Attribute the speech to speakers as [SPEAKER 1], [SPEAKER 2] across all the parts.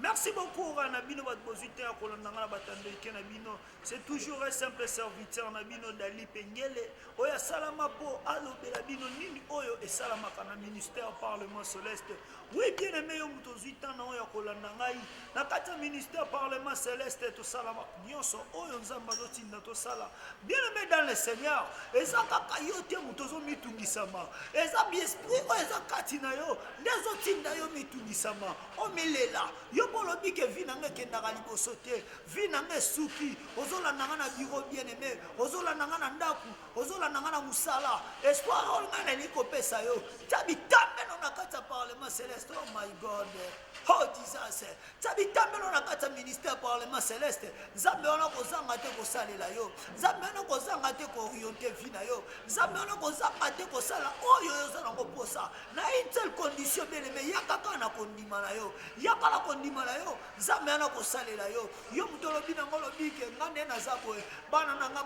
[SPEAKER 1] Merci beaucoup Ora na bino bato bozwi te ya kolanda nga na bato ya ndeke na bino c'est toujours un simple serviteur na bino Dali Pengele oyo asalama mpo alobela bino nini oyo esalamaka na ministère parlement celeste oui bien aimé yo moto ozwi temps na oyo ya kolanda ngai na kati ya ministère parlement celeste tosalama nyonso oyo nzambe azotinda tosala bien aimé dans le seigneur eza kaka yo te moto ozomitungisama eza biesprit oyo eza kati na yo nde ezotinda yo mitungisama omilela yo mpo olobi ke vi na nga ekendaka liboso te vi na nga esuki ozolanda nga na biro bien aime ozolanda nga na ndako ozolanda nga na mosala espoir oyo ngai nalingi kopesa yo tya bitambelo na kati ya parlement celeste oh my god oh jesus tya bitambelo na kati ya ministère parlement celeste nzambe wana kozanga te kosalela yo nzambe wana kozanga te kooriente vi na yo nzambe wana kozanga te kosala oyo oza nango mposa na une seule condition bele me yaka kaka na kondima na yo yaka na kondima na yo nzambe yana kosalela yo yo moto olobi nango olobi ke nga nde naza boye bana na nga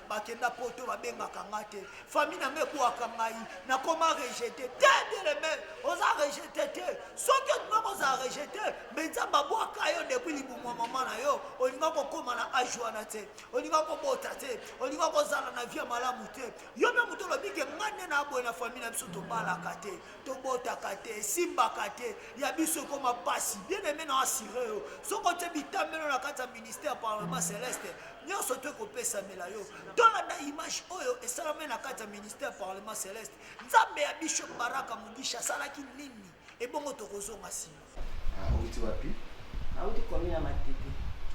[SPEAKER 1] bakenda poto babengaka nga te fami na nga ebwaka ngai nakoma rejete te bele me oza rejete te soki olinga kozala rejete me nzambe abwaka yo depuis libumu ya mama na yo olinga kokóma na age wana te olinga kobota te olinga kozala na vie malamu te yo mpe moto olobi ke ngai nde na boye na famille na biso tobalaka te tobotaka te esimbaka te ya biso ekoma mpasi bien aime na asire yo soki otye bitambelo na kati ya ministère parlement celeste nyonso to ekopesamela yo tolanda image oyo esalami na kati ya ministère parlement celeste nzambe ya bishop baraka mogisha asalaki nini ebongo tokozonga nsima Ah, owuti wapi?
[SPEAKER 2] Nawuti komi
[SPEAKER 3] na Matete.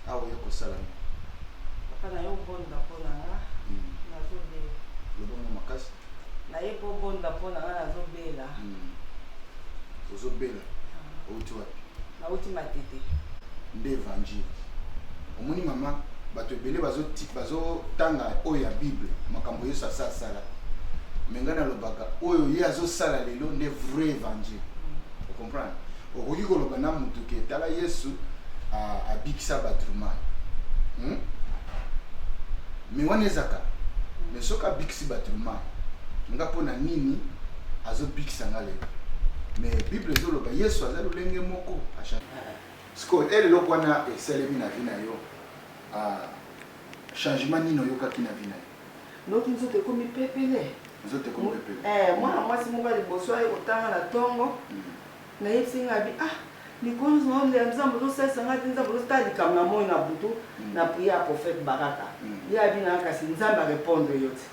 [SPEAKER 3] Awa ah, oye kosala
[SPEAKER 2] nini? Papa
[SPEAKER 3] na yo bonda mpo na nga hmm. nazobela. Lobongo
[SPEAKER 2] makasi? Naye mpo
[SPEAKER 3] bonda mpo na nga nazobela. Hmm. Ozobela?
[SPEAKER 2] Ah. Owuti wapi? Nawuti Matete.
[SPEAKER 3] Nde
[SPEAKER 2] evangile. Omoni mama bato ebele bazotanga oyo ya bible makambo yesu asa asala me ngai nalobaka oyo ye azosala lelo nde vrai evangile comprendre okoki koloba na mutu ke tala yesu abikisa batrumai hmm? me wana ezaka me soki abikisi batrumai nga mpo na nini azobikisa nga lelo me bible ezoloba yesu aza lolenge moko sikoyo ele eh, eloko wana esalemi na vi na yo ah, changement nini oyokaki na vi na yo Noki nzoto
[SPEAKER 3] ekomi pepele. Nzoto ekomi pepele. Ee, mwana mwasi moko ya liboso aye kotanga na tongo. Nayebisi ye ngai abi, ah, mikolo nyonso na olia Nzambe ozo salisa ngai te, Nzambe ozo tala likambo na moyi na butu na prière ya prophète Baraka. Ye abi na nga kasi Nzambe a repondre yo te.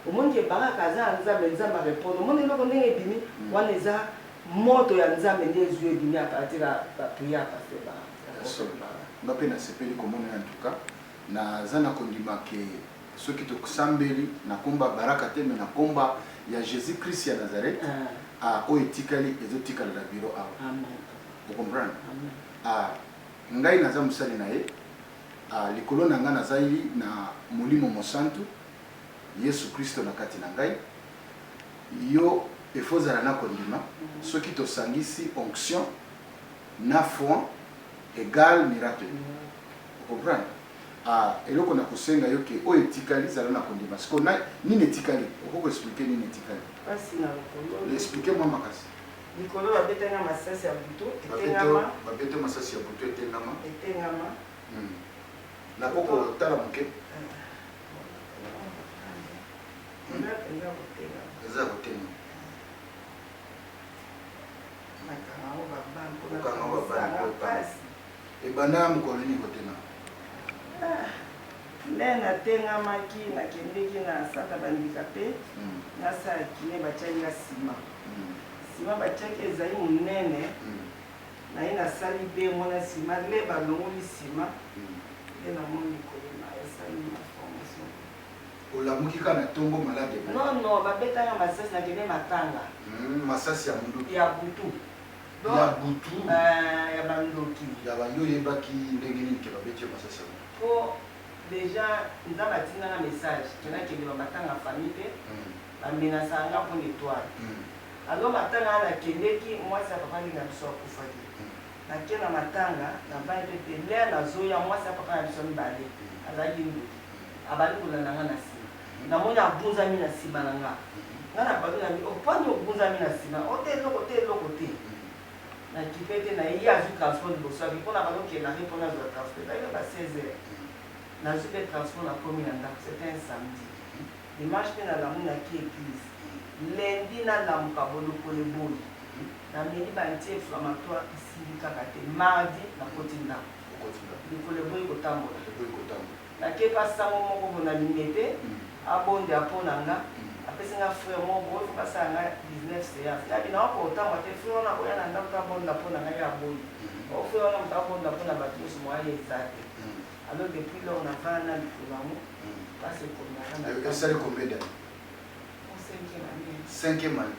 [SPEAKER 3] Omoni ke Baraka aza ya Nzambe, Nzambe a repondre. Omoni eloko ndenge ebimi? Wana eza moto ya Nzambe nde ezui ebimi à partir ya ba prière ya pasteur Baraka. Ya solo. Nga pe na sepeli
[SPEAKER 2] komona yo en tout cas. Na za na kondima que soki to sambeli na kombo ya Baraka te mais na kombo ya Jesus Christ ya Nazareth ah oyo etikali ezo tikala na bureau awa o comprendre ah ngai na za mosali na ye ah likolo na ngai na za li na molimo mosantu Yesu Christo na kati na ngai yo il faut ozala na kondima soki to sangisi onction na foi egal miracle. O comprendre? Ah eloko na ko senga yo que oyo etikali zala na ko ndima. Sikoyo na nini etikali? Okoki ko expliquer nini etikali? Pasi na lokolo.
[SPEAKER 3] Expliquer mwa makasi.
[SPEAKER 2] Likolo ba bete
[SPEAKER 3] nga masasi ya butu etengama. Ba bete yo masasi ya
[SPEAKER 2] butu etengama. Etengama. Hum na ko ko tala muke. Eza penza ko tengama. Eza ko tengama. Nakanga ngo ba bande. Okanga ngo ba bande. Ebanda na mokolo nini kotengama? Ah,
[SPEAKER 3] nde natengamaki, nakendeki na centre ya ba-handicape, na salle ya kine, batiaki nga ciment. Ciment batiaki ezali monene, naye nasali demo na ciment, le balongoli ciment, nde namoni kolema esali nga formation te. Olamuki
[SPEAKER 2] kaka na tongo malade ebele? Non, non, babeta
[SPEAKER 3] nga masasi, nakende matanga. Hum, masasi ya
[SPEAKER 2] munduki? Ya butu.
[SPEAKER 3] ya
[SPEAKER 2] butu euh ya ba
[SPEAKER 3] ndoki ya ba yo yebaki
[SPEAKER 2] ndenge nini ke babeti yo masasi ya butu po
[SPEAKER 3] dejà nzambe atinda nga message ke nakende ba matanga famille pe ba menasaka nga po na etoile alors matanga wana nakendeki muasi ya papa nde na biso akufaki nake na matanga na vandi pe te l'heure nazoya muasi ya papa na biso ya mibale azalaki ndoki abandi kolanda nga na sima Namoni agunzami na sima na nga. Nga na papi na bi, oh pwani ogunzami na sima, oh te eloko te eloko te. Na kipe te na ye, ye azwi transport liboso ya bi po na banda okende na Rue po na zwa transport ezalaki na ba 16 heures. Na zwi pe transport na komi na ndaku, c'etait un samedi. Dimanche pe na lamuni na ki eglise. Lundi na lamuka bolokole eboyi. Na meli ba ntiefs ba matoa esili kaka te. Mardi na koti ndaku. Lokolo eboyi ko tambola. Na ke pa sango moko boye na limete a bonda po na nga a pesi nga frère moko boye faut ba sala nga 19 seance nga bina oko otambwa te frère wana ako ya na ndaku a bonda po na nga ye a boyi or frère wana mutu a bonda po na batu nionso moyen eza te alors depuis lors na vanda na mikolo yango pasi ekomi na nga na esali combien
[SPEAKER 2] d'annees? Cinquième annee.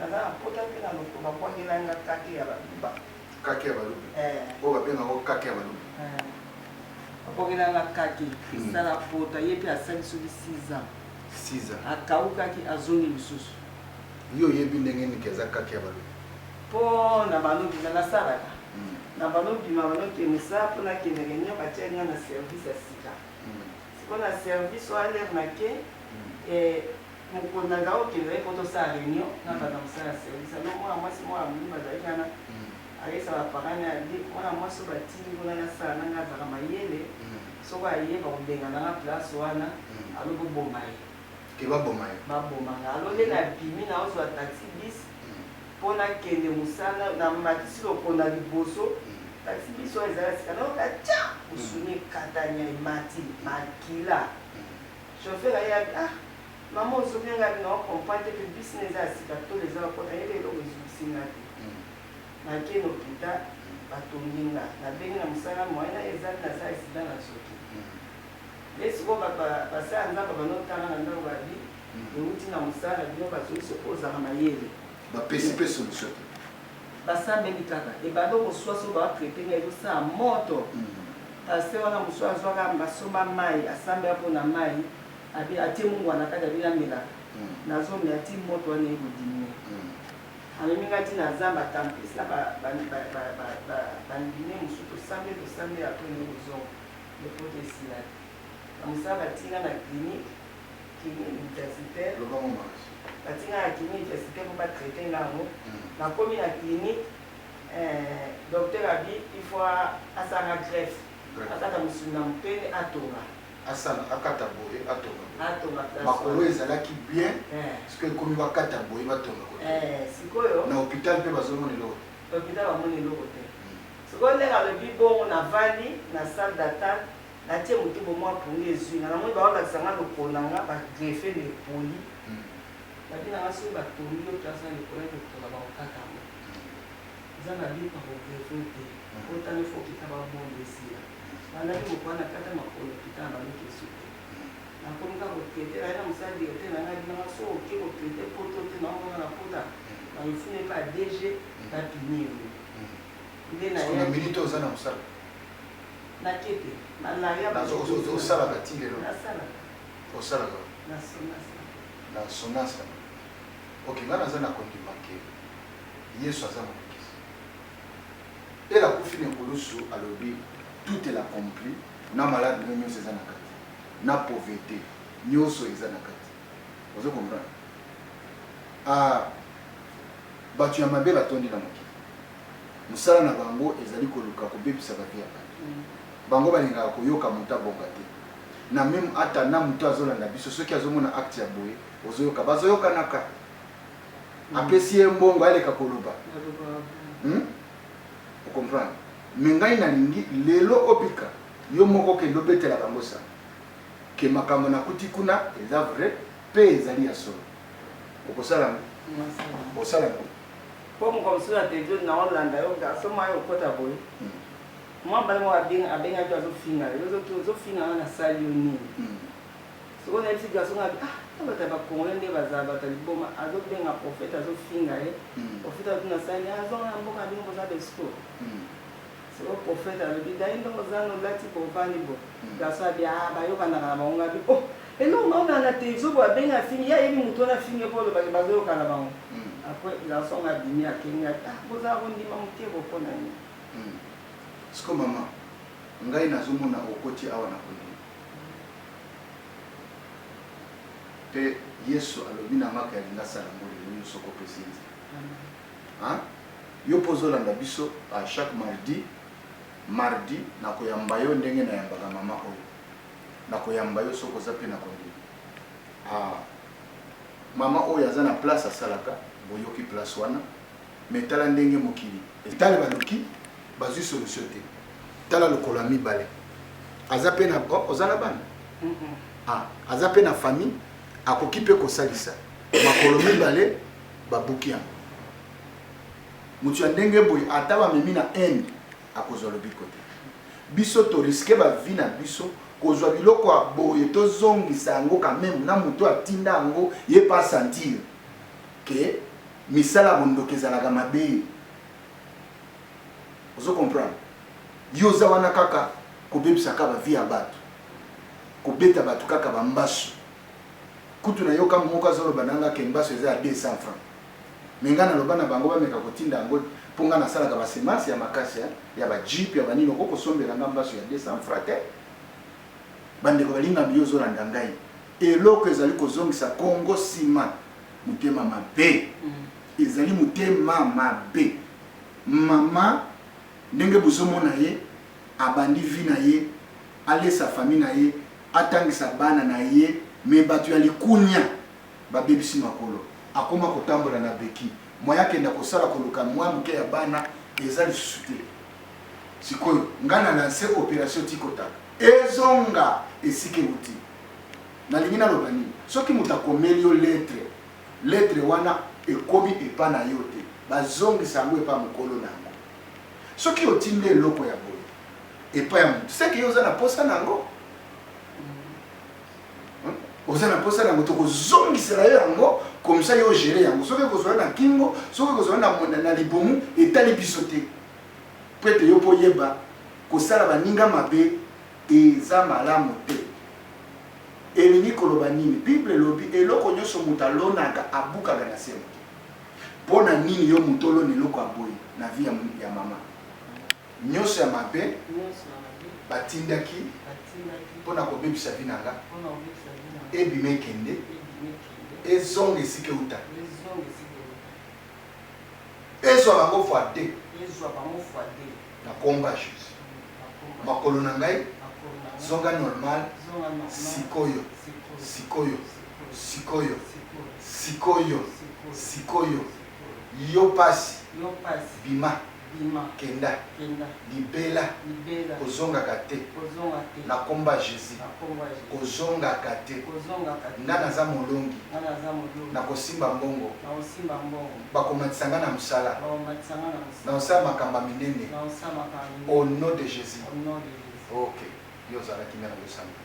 [SPEAKER 2] Naza na pota
[SPEAKER 3] te na loto ba bwakela nga kake ya
[SPEAKER 2] baluba. Kake ya baluba? Eeh. Oyo ba
[SPEAKER 3] benga ngo kake ya baluba? Eeh. Ba bwakela nga kake, cristal apota, ye pe asali soki six ans. Six ans?
[SPEAKER 2] Akaukaki, azongi
[SPEAKER 3] lisusu. Yo oyebi
[SPEAKER 2] ndenge nini ke aza kake ya baluba? Po
[SPEAKER 3] na bando bima nasalaka. Na bando bima, bando ke mosala po nakende reunion, ba tiaki nga na service ya sika. Sikoyo na service wana lere nake, eeh. Mokonzi aza kokendaka poto asala reunion na bato ya mosala ya service, alors mwana mwasi moko ya moyindo azalaki wana, ayebisa ba parents naye alobi mwana mwasi oyo batindi kuna na sala na ngai azalaka mayele, soki aye bakobengana nga place wana, alors boboma ye. Que baboma yo?
[SPEAKER 2] Baboma nga. Alors nde
[SPEAKER 3] nabimi nazozua taxi bis po nakende mosala, namatisi lokolo na liboso, taxi bis wana eza ya sika, nayoka tcha! Musuni ekatani, emati, makila. Chauffeur aye abi ah maman ozomi nga abi nao comprend te pe bus na eza ya sika tolo eza ko kota yeba eloko ezokisi nga te na ke n'hopital ba tongi nga na bengi na musala moyen na eza te na za accident na zoki nde sikoyo ba ba ba sala nzambe ba no tanga na ndako ba bi ewuti na musala bino ba zoki soki ozaka mayele ba pesi pe
[SPEAKER 2] solution te. Ba sambeli
[SPEAKER 3] kaka ebanda oko swa soki ba traite nga ezo sala moto pasteur wana mususu azwa ka mba somba mayi asambela pona mayi abi atie mungwa na kati abi na melaka nazo mela ti moto wana eko diminue amemi nga ti na zamba ata mpesi na ba ba ndime mususu to sambeli to sambeli apres nde ko zonga mais pota esila te na musala ba tie nga na clinique Kin universite batinga na kin universite po ba traite nga yango na komi na clinique eh docteur abi il faut asala nga greffe akata musuni na moto pe atonga asala akata
[SPEAKER 2] boye atonga atonga makolo ezalaki bien eh. siko ekomi bakata boye batonga kote eh, sikoyo
[SPEAKER 3] na hôpital mpe
[SPEAKER 2] bazomona eloko hôpital bamoni
[SPEAKER 3] eloko te hmm. sikoyo ndenge alobi bongo navandi na salle d'attente Na tie moto bo mwa pongi ezui nga, na moni bao lakisa nga lokolo na nga ba greffer na epoli. Ba bi na nga soki ba tongi yo place na likolo ya doktola bako kata yango. Eza na but na ko greffer yo te, po tango il faut okita ba bombe esila. Ba landaki mokolo wana na kata makolo na kita na bango ekesu te. Na komi kaka ko traiter, na ye na mosala directeur na nga abi na nga soki oke ko traiter poto te na omona nga na pota na mifuna epa ya DG ba puni yo. Nde na ye. Na minute oyo
[SPEAKER 2] oza na mosala?
[SPEAKER 3] Nakete, na laya ba ndeko musala. Osalaka
[SPEAKER 2] ti lelo?
[SPEAKER 3] Nasalaka.
[SPEAKER 2] Osalaka?
[SPEAKER 3] Na
[SPEAKER 2] sonasa. Na sonasa. Ok, nga naza na kondima ke Yesu aza mobikisi. Ele akufi na ekulusu alobi tout est accompli na malade no nyonso eza na kati na pauvete nyonso eza na kati ozo comprendre ah, bato ya mabe batondi na mokili Mosala na bango ezali koluka kobebisa ba vie ya batu. Bango balingaka koyoka mutu abonga te. Na meme ata na mutu azolanda biso soki azomona acte ya boye ozoyoka bazoyokanaka. Apesi ye mbongo aleka koloba. Hum o comprendre. Mais ngai nalingi lelo obika yo moko okende obetela bango sango que makambo nakuti kuna eza vrai pe ezali ya solo. Okosala yango? Osala yango? Po mokolo mosusu
[SPEAKER 3] na television nao landa yo garçon moko ayo kota boye mwa bala moko abengaki yo azo finga yo ozo finga nga na sali yo nini sikoyo na yebisi garçon nga ah na bato ya ba congolais nde bazala bato ya liboma azo benga prophète azo finga ye prophète azo tuna sali azo nga na mboka bino boza ba escroc Sikoyo prophète alobi daindo ozana olati bovandi bo garçon abi aah bayokanaka na bango nga bi ohh eloko nga olanda te zobo abengi afingi ye ayebi mutu wana afingi ye po oloba ke bazoyoka na bango après garçon yango abimi akeyi nga ah bozala kondima mukie bo pona nini. Hum
[SPEAKER 2] sikoyo maman ngai nazo mona okoti awa na kondima pe yesu alobi na nga ke alingi asala yango lelo yo soki opesi ye nzela. Hein yo pe ozo landa biso à chaque mardi mardi nako yamba yo ndenge na yambaka maman oyo nako yamba yo soki oza pe na kondima ah maman oyo aza na place asalaka boyoki place wana mais tala ndenge mokili tala baluki bazui solution te tala lokolo ya mibale aza pe na oh, oza na bana ah aza pe na famille akoki pe kosalisa makolo mibale babuki yango. Mutu ya ndenge boye ata bamemi na Inde akozwa lobiko te. Biso to risque ba vie na biso kozwa biloko ya boye tozongisa yango quand meme na mutu atinda yango ye pe a sentir que misala ya bondoki ezalaka mabe. Ozo comprendre? Yo oza wana kaka kobebisa kaka ba vie ya batu, kobeta batu kaka ba mbasu. kutu na yoka moko azo loba na nga que mbasu eza ya 200 francs mais nga na loba na bango ba meka ko tinda yango po nga na salaka ba semences ya makasi hein ya ba jeep ya ba nini okoki ko sombela nga mbasu ya 200 francs te ba ndeko ba linga mbi ozo landa ngai eloko ezali ko zongisa Congo sima mutema mabe mm. ezali mutema mabe mama ndenge bozo mona ye abandi vie na ye alesa famille na ye atangisa bana na ye mais batu ya likunia ba bebisi makolo akoma kotambola na bequille moyen akenda kosala koluka mua muke ya bana eza lisusu te sikoyo nga na lancer operation tikotaka ezonga esika ewuti nalingi naloba nini soki moto akomeli yo lettre lettre wana ekomi epa na yo te bazongisa yango epa mokolo na yango Soki otindi eloko ya boye epai ya moto, seke yo oza na posa na yango, oza na posa na yango, tokozongisela yo yango komisa yo ogere yango. Soki ekozwa na kingo, soki ekozwa na, na, na libumu, etali biso te. Mpo ete yo mpo oyeba kosala baninga mabe eza malamu te. Elingi koloba nini? Bible elobi eloko nyonso moto alonaka abukaka na se moto. Pona nini yo mutu olona eloko ya boye na vie ya maman? Nioso ya mabe batindaki pona kobebisa vie na nga ebima ekende ezonga esika euta ezwa bango fois deux na komba Jesus makolo na ngai zonga normal sikoyo sikoyo Sikoyo, sikoyo, sikoyo, yo pasi, bima, kenda, libela, kozongaka te, na kombo ya Jesus, kozongaka te, nga naza molongi, nakosimba mbongo, bakomatisa nga na mosala, nakosala makambo ya minene, au nom de Jesus, ok, yo ozalaki nde na losambo,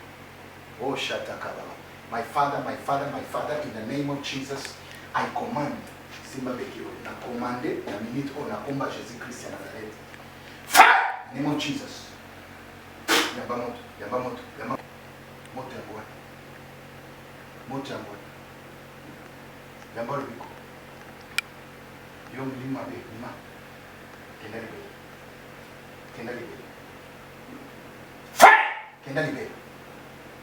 [SPEAKER 2] oh shatakababa. My father my father my father in the name of Jesus I command simba beki oyo na commande na minute oyo na komba Jesus Christ ya Nazareth fire name of Jesus yamba moto yamba moto yamba moto yango wana moto yango wana yamba lobiko yo molimo mabe bima kenda libele kenda libele fire kenda libele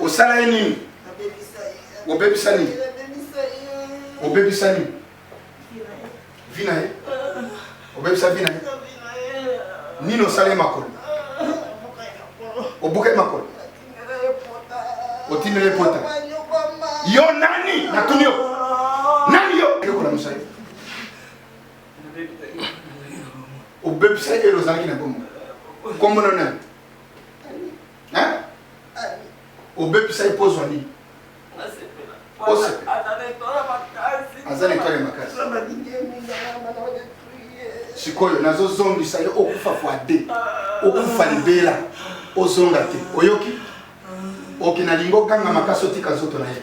[SPEAKER 2] osala ye nini obebisa nini obebisa nini vi na ye obebisa vi na ye nini osala ye makolo obuka ye makolo otindela ye pota yo nani natuni yo nani yo yokola mosali obebisa ye elo ozalaki na bomo kombona nani Hein? obebisa ye mpo ozwa nini aza na etwale makasi sikoyo nazozongisa yo okufa fois de okufa libela ozonga te oyoki oki nalingi okanga makasi otika nzoto na ye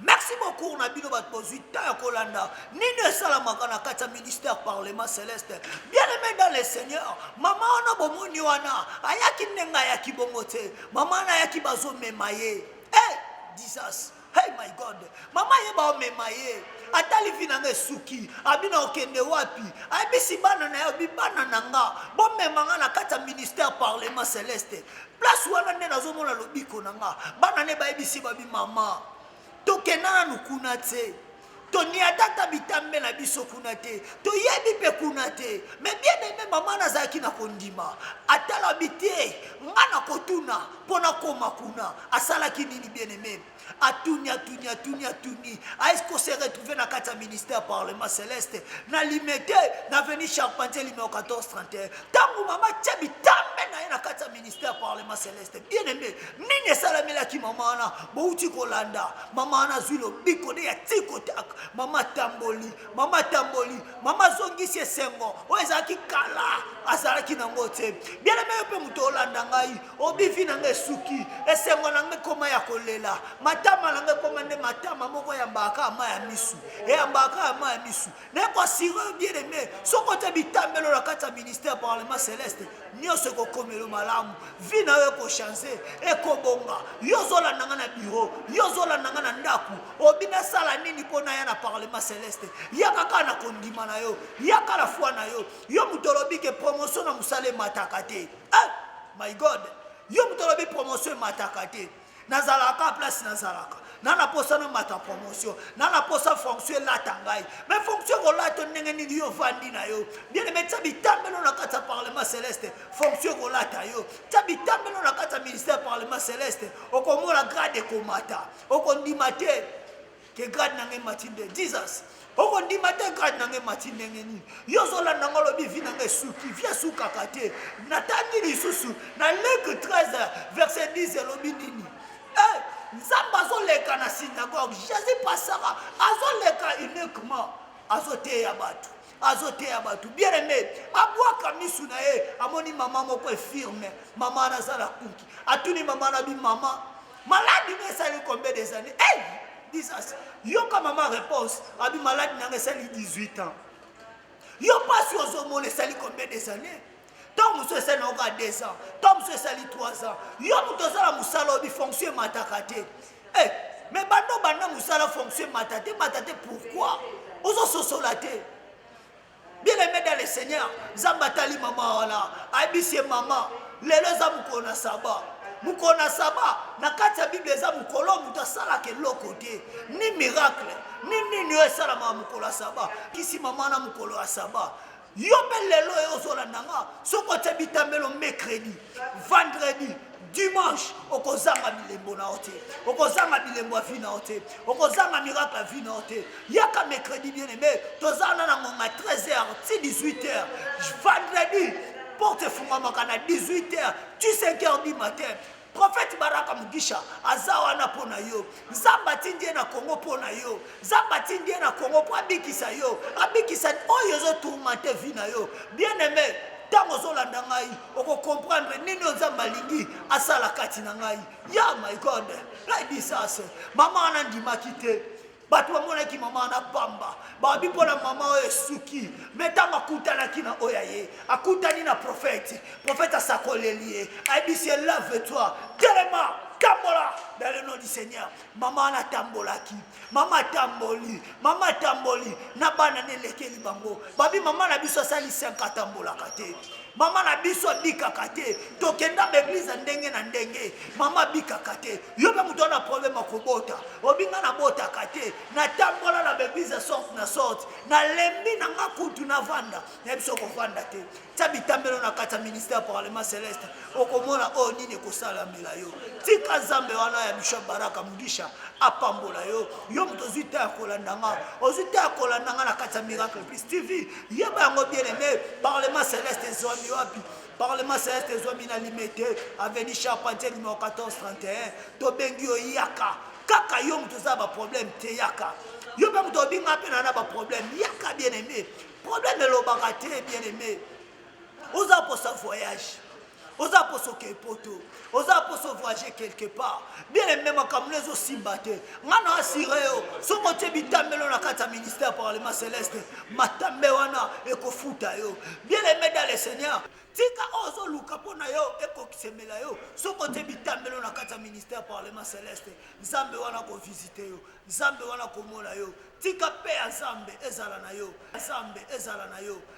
[SPEAKER 2] Merci beaucoup
[SPEAKER 1] cours na bino bato bozwi temps ya kolanda nini esalamaka na kati ya ministère parlement céleste bien aimé dans le seigneur mama wana bomoni wana ayaki ndenge ayaki bongo te mama wana ayaki bazomema ye e hey, disas hey my god mama ye baomema ye ata livi na nga esuki abina okende wapi ayebisi bana na yo bibana na nga bomema nga na kati ya ministère parlement céleste place wana nde nazomona lobiko na nga bana ne bayebisi babi mama toke nanu kuna te toniata ata bitambe na biso kuna te toyebi mpe kuna te me bien aime mama nazalaki na kondima atala bite nga na kotuna mpo nakoma kuna asalaki nini bien aime Atuni, atuni, atuni, atuni. Est-ce qu'on s'est retrouvé na kati ya ministère parlement Celeste na Limete na avenue Charpentier numéro 1431 tango mama tia bitambe na ye na kati ya ministère parlement Celeste bien aimé nini esalamelaki mama wana bouti kolanda mama wana azwi lobiko nde ya tikotak mama tamboli mama tamboli mama azongisi esengo oyo ezalaki kala azalaki nango te bien aimé yo mpe moto olanda ngai obivi na ngai esuki esengo na ngai ekoma ya kolela matama na ngai ekoma nde matama moko eyambaka ama ya misu eyambaka ama ya misu naye koasire yo bien aime soki otya bitambelo na kati ya ministère parlement celeste nyonso ekokomelo malamu vi na yo ekochange ekobonga yo ozolanda ngai na biro yo ozolanda ngai na ndako obi nasala nini mpo naya na parlement celeste yaka kaka na kondima na yo yaka na foi na yo yo moto olobi ke promotion na mosala emataka te Ah, my God, yo moto olobi promotion emataka te nazalaka place nazalaka na naposa namata promotion na naposa fonction elata ngai me fonction kolata ndenge nini yo ofandi na yo bien eme tya bitambelo na kati ya parlement celeste fonction kolata yo tya bitambelo na kati ya ministère parlement celeste okomona grade ekomata okondima te ke grade na ngai emati nde jesus okondima te grade na ngai emati ndenge nini yo ozolanda ngai olobi vi na ngai esuki vi esukaka te natangi lisusu na leke 13 verset 10 elobi nini eh, nzambe azoleka na synagogue jésus pasaka azoleka uniquement azoteya bato azoteya bato bien aime abwaka misu na ye amoni mama moko efirme mama wana aza na kuki atuni mama na bi mama Malade na esali combien des années hey! disas yoka mama réponse abi malade nanga esali 18 ans yo mpasi ozomona esali combien des années ntango mosusu esali na oka 2 ans ntango mosusu esali 3 ans yo moto oza na mosala obi fonction emataka te hey! Eh, me banda obanda mosala fonction emata te emata te pourkui ozososola te Bien aimé dans le Seigneur, Nzambe atali mama wana, ayebisi ye mama, lelo eza mokolo na saba. Mokolo na saba na kati ya Biblia eza mokolo oyo moto asalaka eloko te, ni miracle, ni nini oyo esalamaka mokolo ya saba. Kisi mama wana mokolo ya saba. Yo mpe lelo oyo ozolanda nga, soki otye bitambelo mercredi, vendredi dimanche okozanga bilembo na yo te okozanga bilembo ya vi na yo te okozanga miracle ya vi na yo te yaka mercredi bien aime toza wana na ngonga 13 heures ti 18 heures vendredi porte efungamaka na 18 heures ti 5 heures du matin profete baraka mugisha aza wana mpo na yo nzambe atindi ye na kongo mpo na yo Nzambe atindi ye na Congo mpo abikisa yo, abikisa oyo ezo tourmente vie na yo. Bien aime, ntango ozolanda ngai, oko comprendre nini oyo Nzambe alingi asala kati na ngai. Ya my God, ngai disas, mama wana andimaki te. Bato bamonaki mama wana pamba, babi mpo na mama oyo esuki. Me ntango akutanaki na oyo ya ye, akutani na profete, profete asakoleli ye, ayebisi ye lave toi, telema, tambola, dans le nom du Seigneur. Mama natambolaki, mama atamboli, mama atamboli na bana na elekeli bango. Babi mama na biso asali 5 atambolaka te. Mama na biso abikaka te. Tokenda ba eglise ya ndenge na ndenge. Mama abikaka te. Yo mpe moto wana problème ya kobota. Obinga nabotaka te. Natambola na ba eglise ya sorte na sorte. Nalembi na nga kutu navanda. Na biso kovanda te. tia bitambelo na kati ya ministère parlement celeste okomona oyo nini ekosalamela yo tika zambe wana ya bishop baraka mugisha apambola yo yo moto ozwi ta ya kolanda nga ozwi ta ya kolanda nga na kati ya miracle plus tv yeba yango bien aime parlement celeste ezwami wapi parlement celeste ezwami na limete aveni charpentier numero 1431 tobengi yo yaka kaka yo moto oza na baproblème te yaka yo mpe moto obinga mpe na na baproblème yaka bien aime problème elobaka te bien aimé oza posa voyage oza posa oke poto oza posa voyage quelque part bien aimé makambo no ezosimba te nga na asire yo soki otie bitambelo na kati ya ministère ya parlement céleste matambe wana ekofuta yo bien aimé dans le seigneur tika oyo ozoluka mpo na yo ekokisemela yo soki otie bitambelo na kati ya ministère ya parlement céleste nzambe wana akovisite yo Nzambe wana akomona yo. Tika paix ya Zambe ezala na yo. Zambe ezala na yo.